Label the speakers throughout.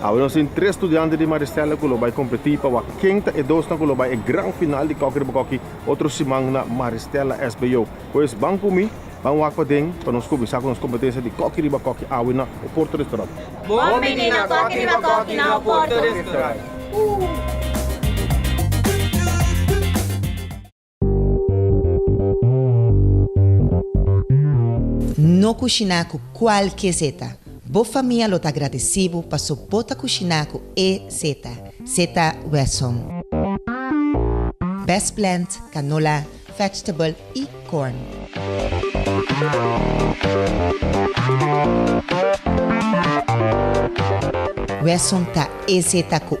Speaker 1: Awor nos tin tres studiante di Maristella cu lo bay competi pa wak ken ta e dosnan cu lo bay e gran final di Cocky Riba Cocky otro siman na Maristella SBO. Pues ban cu mi, ban wak paden pa nos cuminsa cu nos competencia di Cocky Riba Cocky awe na Oporto Restaurant. Bon bini na
Speaker 2: Cocky Riba Cocky na Oporto Restaurant.
Speaker 3: No kushiná ku kualke zeta. Bo famia lo ta gradesí bo paso bo ta kushiná ku e zeta, zeta Wesson. Best plant, canola, vegetable i corn. Wesson ta e zeta ku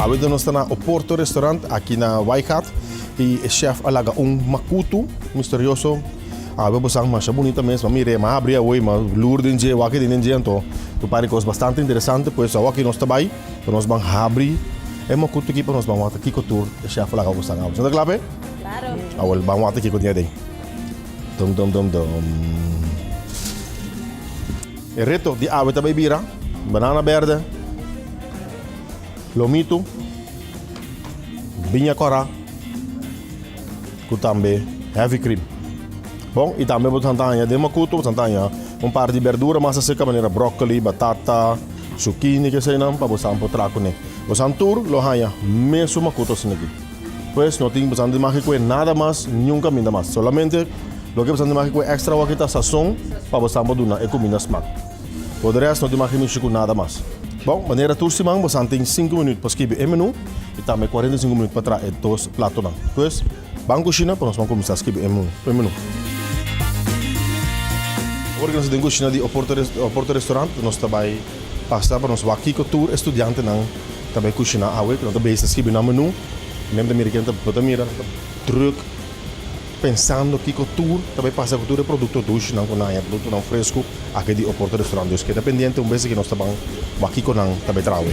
Speaker 1: Awor nos ta na Oporto Restaurant aki na Waigat y e chef a laga un makutu misterioso. Awor bo sa masha bunita mes, ma mi rei ma abri awor y ma lur den dje, wak den dje anto mi parse cos bastante interesante. Pues awor aki nos ta bay ta nos ban habri e makutu aki pa nos ban wak ta kico tur e chef a laga bo sa. Bo ta cla pe? Claro. Awor
Speaker 2: ban wak ta kico
Speaker 1: tin aden. Dom dom dom dom. E reto di awe ta bay bira. Banana berde. Lomitu. Biña cora. Cu tambe heavy cream. Bon, y tambe bo santaña den makuto, bo santaña un par di berdura masa seca manera broccoli, batata, zucchini, ke eseinan, pa bo san po tra cune. Bo san tur lo haña mesun makuto asina aki. Pues no tin bastante maki cu e nada mas niun caminda mas solamente loke bastante maki cu e extra awaki ta sazon pa bosnan por duna e cuminda smaak por de rest no tin maki mishi cu nada mas bon manera tur siman bosnan tin cinco minuut pa skibi e menu y tambe cuarenta y cinco minuut pa traha e dos platonan pues ban cushina pa nos por cuminsa skibi e menu. Ora cu nos ta den cushina di Oporto Restaurant nos ta bay. Pasa pa nos wak kiko tur e studiantenan ta bai kushiná awe ku nan ta besi skibi nan menú. Mi a mira ke nan ta mira, nan ta drùk pensando kiko tur ta bai pasa ku tur e produkto dushnan ku nan haña, produktonan fresku aki di Oporto Restaurant. Dus keda pendiente un bes ke nos ta ban wak kiko nan ta bai traha awe.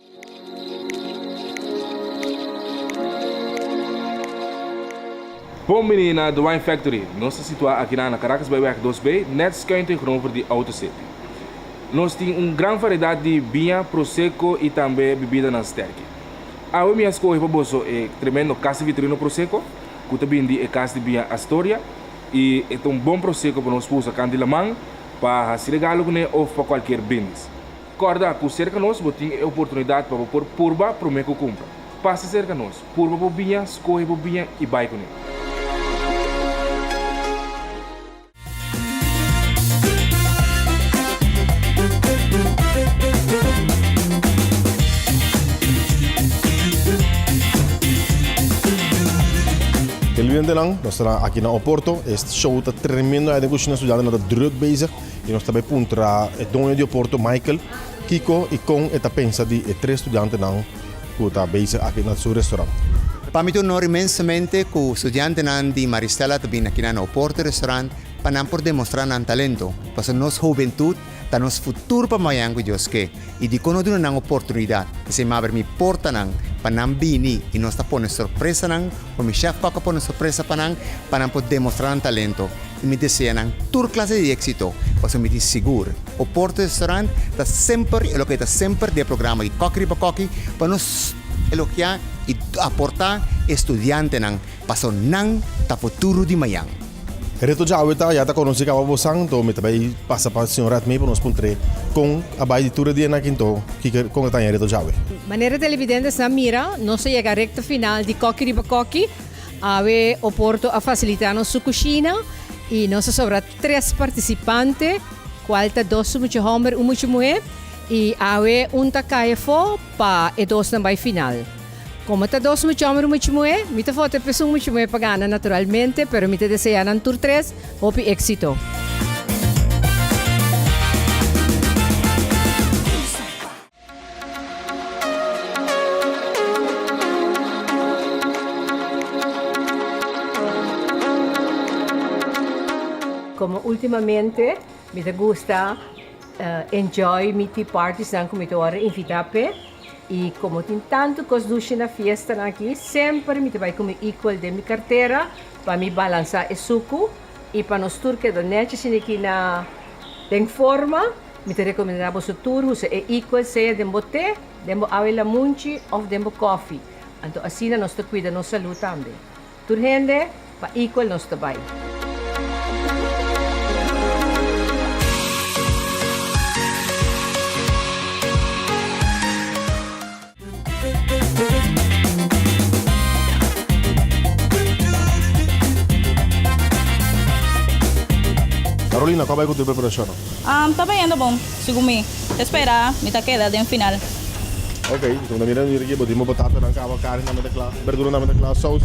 Speaker 4: Bon bini na The Wine Factory. Nos ta situá aki nan na Caracas Byweg dos B, nèt skuin tegenover di AutoCity. Nos tin un gran variedat di biña, prosecco i tambe bibidanan sterki. Awe mi a skohe pa boso e tremendo Casa Vitorino Prosecco, ku ta bin di e kas di biña Astoria, i e ta un bon prosecco pa nos usa kan di laman, pa hasi regalo kuné òf pa kualkier bins. Kòrda ku serka nos bo tin e oportunidat pa bo por purba promé ku kumpra. Pasa serka nos, purba bo biña, skohe bo biña i bai kuné.
Speaker 1: Geluendenan nos ta aki na Oporto. E show ta tremendo. Ai den kushina estudiantenan ta drùk bezig. I nos ta bai puntra e doño di Oporto, Michael, kiko i kon e ta pensa di e tres studiantenan ku ta bezig aki na su restaurant. Pa mi ta un onor
Speaker 5: inmensamente ku studiantenan di Maristella ta bini akinan na Oporto Restaurant pa nan por demostrá nan talento, pasobra nos hubentut ta nos futur pa mañan, ku Dios ke. i dikon no duna nan oportunidat, esei m'a abri mi portanan pa nan bini i nos ta pone sorpresa nan o mi shèf Kòkò pone sorpresa pa nan pa nan por demostrá nan talento i mi desea nan tur klase di éksito pasobra mi tin sigur Oporto Restaurant ta semper i loke e ta semper den e programa di Kòki riba Kòki pa nos elogiá i aportá e studiantenan paso nan ta futuro di mañan. Reto djawe
Speaker 1: ta, ya ta konosí kaba bo santo, mi ta bai pasa pa Señor Admee pa nos puntr'é kon a bai di tur e dianan akin to, kiko, kon a taña reto djawe. Manera televidentes
Speaker 6: nan mira, nos ta yega rekta final di Kokkie Riba Kokkie, awe Oporto a fasilitá nos su kushina i nos a sobra tres partisipante, kual ta dos su mucha hòmber, un mucha muhé, i awe un ta kai afó pa e dosnan bai final. Como ta dos mucha homber y mucha muhe, mi ta fote p'es un mucha muhe pa gana naturalmente, pero mi ta desea nan tur tres hopi exito. Como ultimamente mi ta gusta enjoy mi tea parties nan cu mi ta wordo invita p'e. I komo tin tantu kos dushi na fiestanan aki, semper mi ta bai ku mi ikual den mi kartera pa mi balansá e suku i pa nos tur keda nechi asina aki na den forma. Mi ta rekomendá boso tur usa e ikual sea den bo te, den bo awe lamunchi òf den bo kòfi. Anto asina nos ta kuida nos salú tambe. Tur hende pa Equal nos ta bai.
Speaker 1: Carolina, cu a bai cu tur preparacionnan? Ta bayendo
Speaker 2: bon. Segun mi ta spera mi ta keda den final. Ok, enton
Speaker 1: ta mira riba aki bo tin bo batasanan caba carne tambe ta cla, berdura tambe ta cla, saus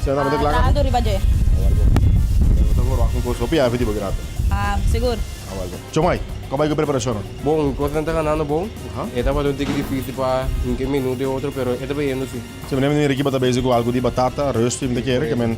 Speaker 1: esnan tambe ta cla caba? Lado riba dje. Awal bo. Mira bo ta wor waak un cos hopi happy di bo grape. Ah, segur.
Speaker 2: Awal bo. Chomai,
Speaker 1: caba bai cu preparacionnan? Bo, un cos nan ta
Speaker 7: ganando bon. Aha. E tabata un tiki dificil pa hinca e menu di otro pero e ta bayendo si. Si mi ta mira aki bo ta
Speaker 1: bezi cu algo di batata, reusti mi ta kere, ke men.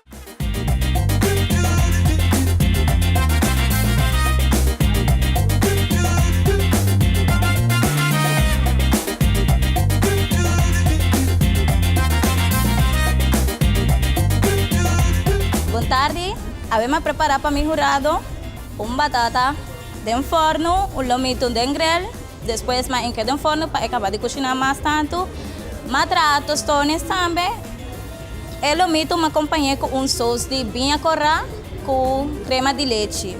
Speaker 2: Bon tardi, Abem a prepara pa mi hurado un batata den forno, un lomito den grel, despues ma enke den forno pa e kaba di kushina mas tantu. Ma traha tostones tambe, E lo mi tuma kompañe ku un sous di biña korá ku krema di lechi.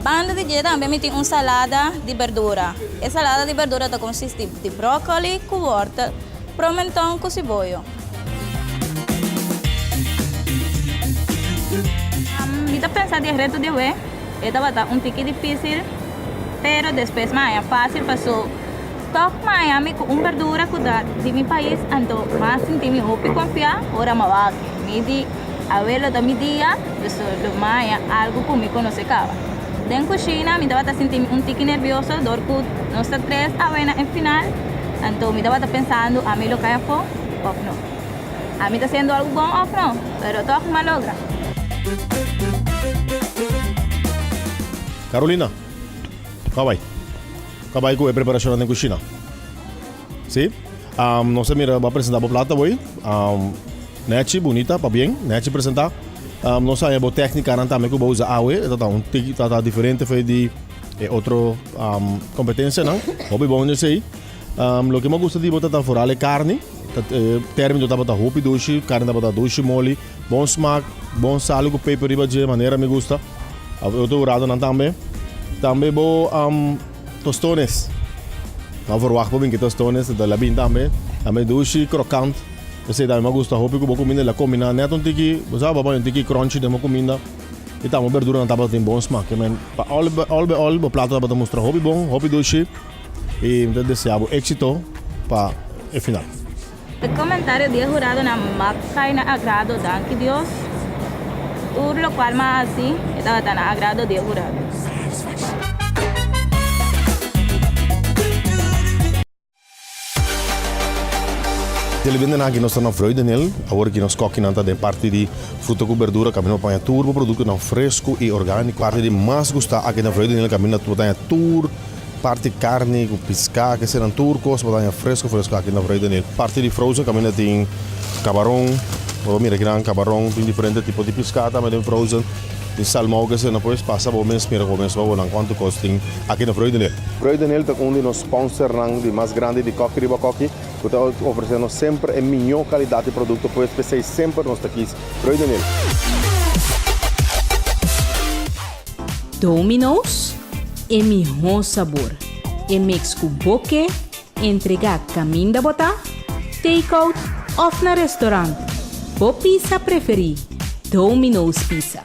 Speaker 2: Banda di dje tambe mi tin un salada di berdura. E salada di berdura ta konsisti di bròkoli ku wòrtel, promenton ku siboyo. Mi ta pensa di e reto di awe e tabata un tiki difisil, pero despues mi haña fásil paso. Tòg maya mi ku un berdura ku da di mi pais anto m'a sinti mi hopi konfiá ora m'a wak. Mi di, Awe lo ta mi dia, so lo maya algu ku mi konosé kaba. Den kushina mi tabata sinti mi un tiki nervioso dor ku nos ta tres awe na e final, anto mi tabata pensando ami lo kai afó òf no. Ami ta hasiendo algu bon òf no? Pero tòg m'a logra.
Speaker 1: Carolina, kawai. Ka bai ku e preparashonnan den kushina. Si. Nos ta mira bo a presentá bo plat awor. Nèchi, bunita, pabien. Nèchi presentá. Nos haña bo tèknikanan tambe ku bo usa awe. E tabata un tiki tabata diferente for di e otro kompetensianan. Hopi bon esei. Loke mi a gusta di bo tabata foral e karni. Tèrmino tabata hopi dushi. Karni tabata dushi, moli. Bon smak, bon salu ku peper riba dje manera mi gusta. Of e otro hurado nan tambe. Tambe bo tostones. No a verwagt pa bin ke tostones, ta labin tambe. Tambe dushi, krokant. Esei tambe mi a gusta hopi ku bo kuminda el a kombiná nèt un tiki, bo sa papá, un tiki krònchi den bo kuminda. I tambe bo berduranan tabata tin bon smak. Pa òl òl b'e òl bo plato tabata mustra hopi bon, hopi dushi. I mi ta deseá bo éksito pa e final. E
Speaker 2: comentario di e huradonan mab cay na agrado danki Dios, tur locual m'a haci e tabata na agrado di e hurado.
Speaker 1: Telebendenan ki nos ta na vrui den el, awor ki nos kokinan ta den parti di fruta ku berdura kaminda bo paña tur bo produktonan fresku i orgániku. Parti di mas gusta aki ta vrui den el kaminda bo ta haña tur. Parti karni ku piskà, kesenan tur kos bo taña fresku fresku aki na Vrede Nil. Parti di frozen kaminda tin kabaron, bo ta mira kinan kabaron, tin diferente tipo di piskà tambe den frozen, tin salmou kesenan pues, pasa bo mes mira ku bo mes wou nan kuantu kos tin aki na Vrede Nil. Vrede Nil ta un di nos spònsernan di mas grandi di Koki Riba Koki ku ta ofresé nos semper e mihó kalidat di produkto pues, p'esei semper nos ta kis Vrede Nil.
Speaker 8: Domino's, e mihó sabor, e mix ku bo ke entregá kaminda bo ta take-out òf na restorant, bo pisa preferí, Domino's Pizza.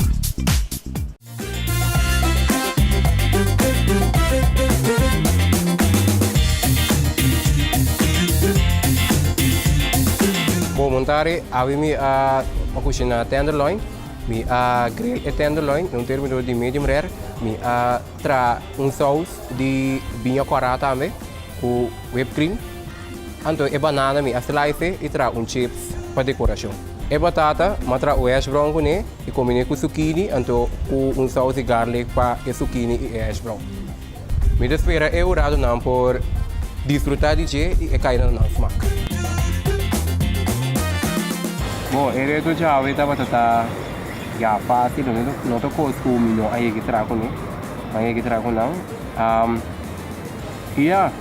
Speaker 7: Bon montare, Awi mi a kushiná tenderloin. Mi a grill e tenderloin na un termidor di medium rare. Mi a tra un saus di biña cuara tambe cu whipped cream. Anto e banana mi a slice e y tra un chips pa decoracion. E batata mi a tra un hash brown cu ne y combine cu zucchini anto cu un saus di garlic pa e zucchini y e hash brown. Mi ta spera e huradonan por disfruta di dje i e kainanan smak. Bo, e reto djawe tabata ta ya fácil, lo mester no ta kos ku mi no a yega traha ku nan, mi a yega traha ku nan. I ya,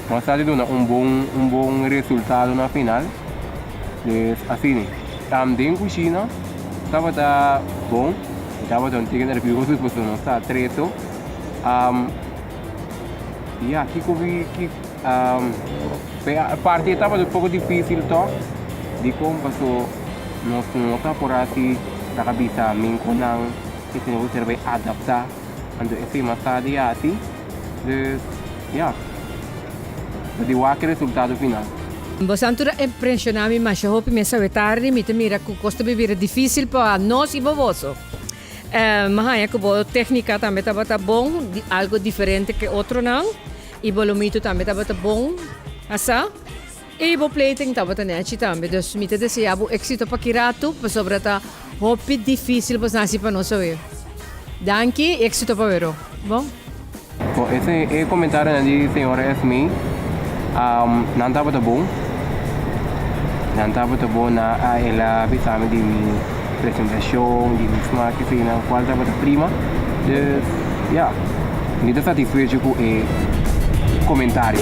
Speaker 7: nos sa di duna un bon, un bon resultado na final. Pues asina. Den kushina tabata bon, E tabata un teken nervioso pasobra nos ta atreto. Um, ya, kiko ki, ki, um, pe a- parte tabata un poco difícil to, di con paso nos nota por así ta ka bisa min con nan que tenemos que ser bay adaptá ando e tema sa di así. Dus Ya. Ta di wak e resultado final. Boso anto ta
Speaker 6: impresiona mi masha hopi mester we tardi mi ta mira cu cos ta bibira dificil pa nos y pa boso. Mi haya cu bo tecnica tambe tabata bon di algo diferente ke otronan y bo lo mito tambe tabata bon. Asa. Ey bo pleiting tabata nechi tambe dus mi ta desea bo exito pa ki ratu pasobra ta hopi dificil bo snasi pa nos oe. Danki y exito pa wero bo. Bo ese
Speaker 7: e comentarinan di señora Esmee um nan tabata bon nan tabata bon na a ela bisami di mi. presentacion di un smaak eseinan cual tabata prima dus ya mi ta satisfecho cu e comentario.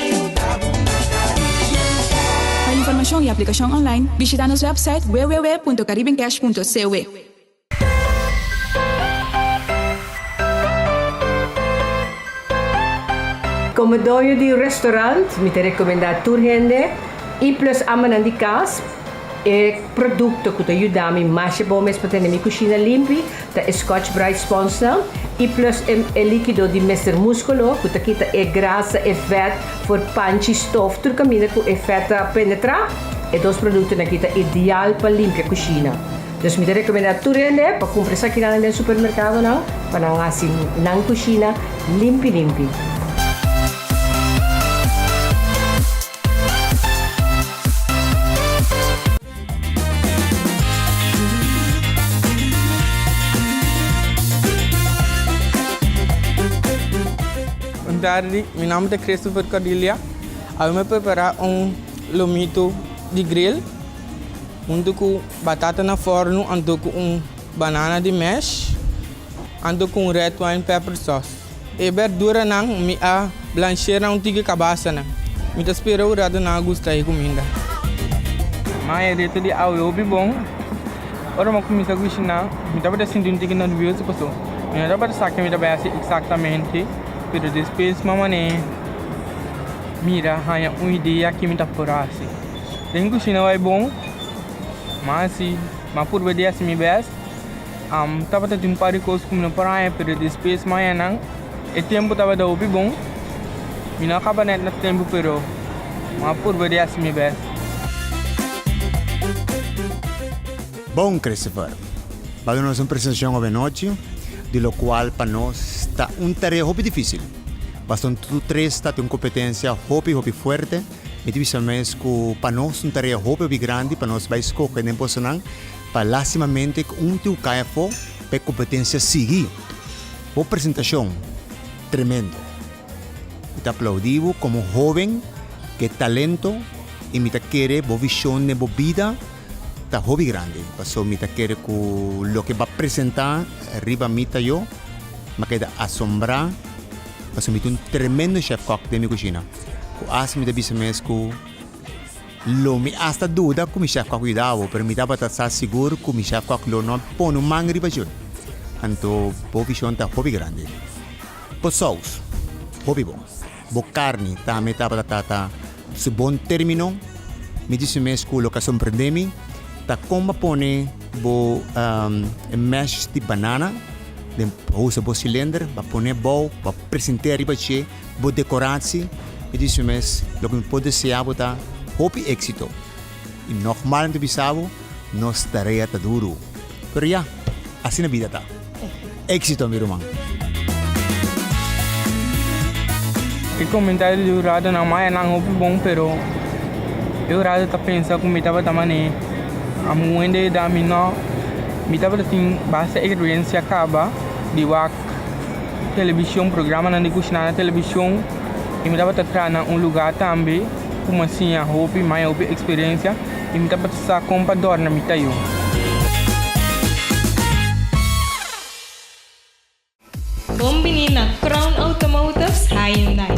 Speaker 9: Pa informashon i aplikashon online, bishita nos wèpsait www.caribencash.cwe.
Speaker 6: Komo doño di un restorant, mi ta rekomendá tur hende, i plus amanan di kas, E produkto ku ta yuda mi masha bon mes pa tene mi kushina limpi ta e Scotch Brite sponsnan i plus e likido di Mister Muskolo ku ta kita e grasa, e vèt for panchi, stof, tur kaminda ku e vèt ta penetrá. E dos produktonan aki ta ideal pa limpia kushina. Dus mi ta rekomendá tur hende pa kumpra esakinan den supermerkadonan pa nan hasi nan kushina limpi limpi.
Speaker 10: Bon tardi, mi nomber ta Christopher Cordilia. Awe mi a prepara un lomito di grill hunto cu batata na forno anto cu un banana di mash anto cu un red wine pepper sauce. E berduranan mi a blansh'é na un tiki kabasanan. Mi ta spera un ratu nan a gusta e kuminda. M'a hereto di awe hopi bon. Ora m'a kuminsá kushiná, mi tabata sinti un tiki nervioso pasobra mi no tabata sa ke mi ta bai hasi eksaktamente. Pero despues m'a manera di mira haña un idea ke mi ta por hasi. Den kushina bai bon, m'a hasi, m'a purba di hasi mi bèst Tabata tin un par di kos ku mi no por haña, pero despues mañanan e tempu tabata hopi bon. Mi no a kaba nèt na tempu, pero mi a purba di hasi mi bèst.
Speaker 5: Bon Christopher! Bada nos un presentashon owenochi, di lokual pa nos ta un tarea hopi difísil. Pasobra tudu tres ta tin un kompetensia hopi hopi fuerte. Mi ta bisa mes ku pa nos ta un tarea hopi hopi grandi pa nos bai skohe den kosanan. Pa lastimamente cu un tiu cay afo pa e competencia sigui. Bo presentacion tremendo. Mi ta aplaudi bo como hoben ke talento y mi ta kere bo vision den bo bida ta hobi grandi. Paso mi ta kere cu loke ba presenta riba mi ta yo ba keda asombra paso mi ta un tremendo chef kok den mi cushina cu asta mi ta bisa mes cu. Lo mi asta duda ku mi Chef Kòk yuda bo, pero mi tabata sa sigur ku mi Chef Kòk lo no pon un man riba djun. Anto bo vishon ta hopi grandi. Bo sous, hopi bon. Bo karni tambe tabata ta ta su bon término. Mi di su mes ku loke a sorprendé mi ta kon bo a pone bo e mèsh di banana den bo usa bo silender, bo a pone abou, bo a present'é riba dje. bo decoratie, mi di su mes, lo cu mi por desea bo ta hopi exito. Y nogmal mi ta bisa bo, nos tarea ta duro, pero ya, asina bida ta. Exito mi ruman.
Speaker 10: E comentario di Eudorado na maya nan hopi bon, pero Eudorado ta pensa cu mi tabata mane. Amo wende edad mi no, mi tabata tin basta experiencia caba di wak. television, programanan di kusina na television i mi tabata traha na un lugá tambe ku mi a siña hopi maya, hopi eksperensia i mi tabata sa kon pa dòrna mi ta yu.
Speaker 8: Bon bini na Crown Automotives Hyundai.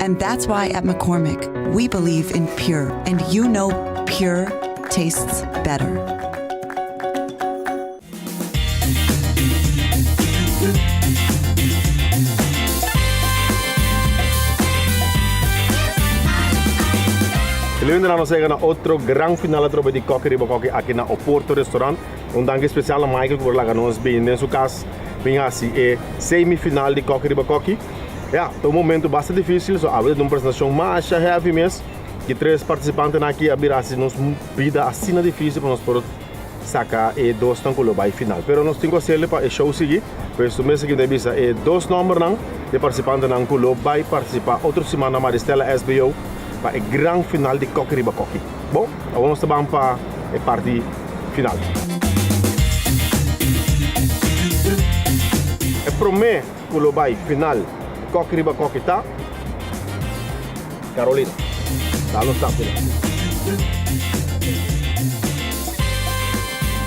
Speaker 11: And that's why at McCormick we believe in pure and you know pure tastes better.
Speaker 1: E lundenan nos yega na otro gran final atrobe di Kokkie Riba Kokkie aki na Oporto Restaurant. Un danki spesial na Michael ku por laga nos bin den su kas bin hasi e semi final di Kokkie Riba Kokkie. Ya, ta un momentu basta difísil, so awe ta un presentashon masha hevi mes. Ki tres partisipantenan aki a bira hasi nos bida asina difísil pa nos por saka e dosnan ku lo bai final. Pero nos tin ku hasel'e pa e show sigui. Por esu mes aki mi ta bisa e dos nòmbernan di partisipantenan ku lo bai partisipá otro simana Maristela SBO pa e gran final di Koki riba Koki. Bo, awor nos ta ban pa e parti final. E promé. Cu lo bay final coki riba coki ta Carolina ta lo stap final.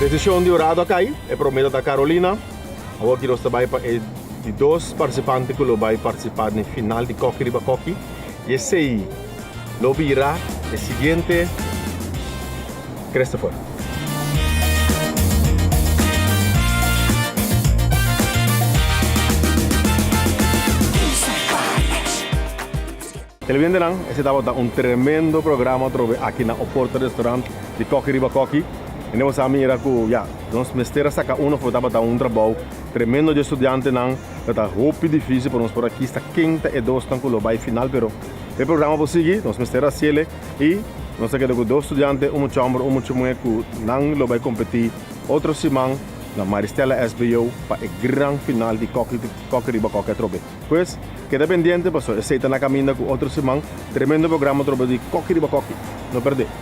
Speaker 1: Decision di Horado a cay, e promesa ta Carolina. Awor ki nos ta bay pa e di dos participante cu lo bay participa den final di coki riba coki y esey Lo bira e siguiente Christopher. Telebidentenan, esei tabata un tremendo programa atrobe aki na Oporto Restaurant di Kokkie Riba Kokkie. I nos a mira ku ya, nos mester a saka uno for. Tabata un trabou tremendo dje studiantenan. Tabata hopi difísil pa nos por a kisa ken ta e dosnan ku lo bai final, pero. E programa por sigui, nos mester haciele y nos ta keda cu dos studiante, un mucha homber, un mucha muher cu nan lo bay competi otro siman na Maristella SBO pa e gran final di Coke Riba Coke atrobe. Pues, keda pendiente paso esey ta na caminda cu otro siman tremendo programa atrobe di Coke Riba Coke. No
Speaker 2: perde!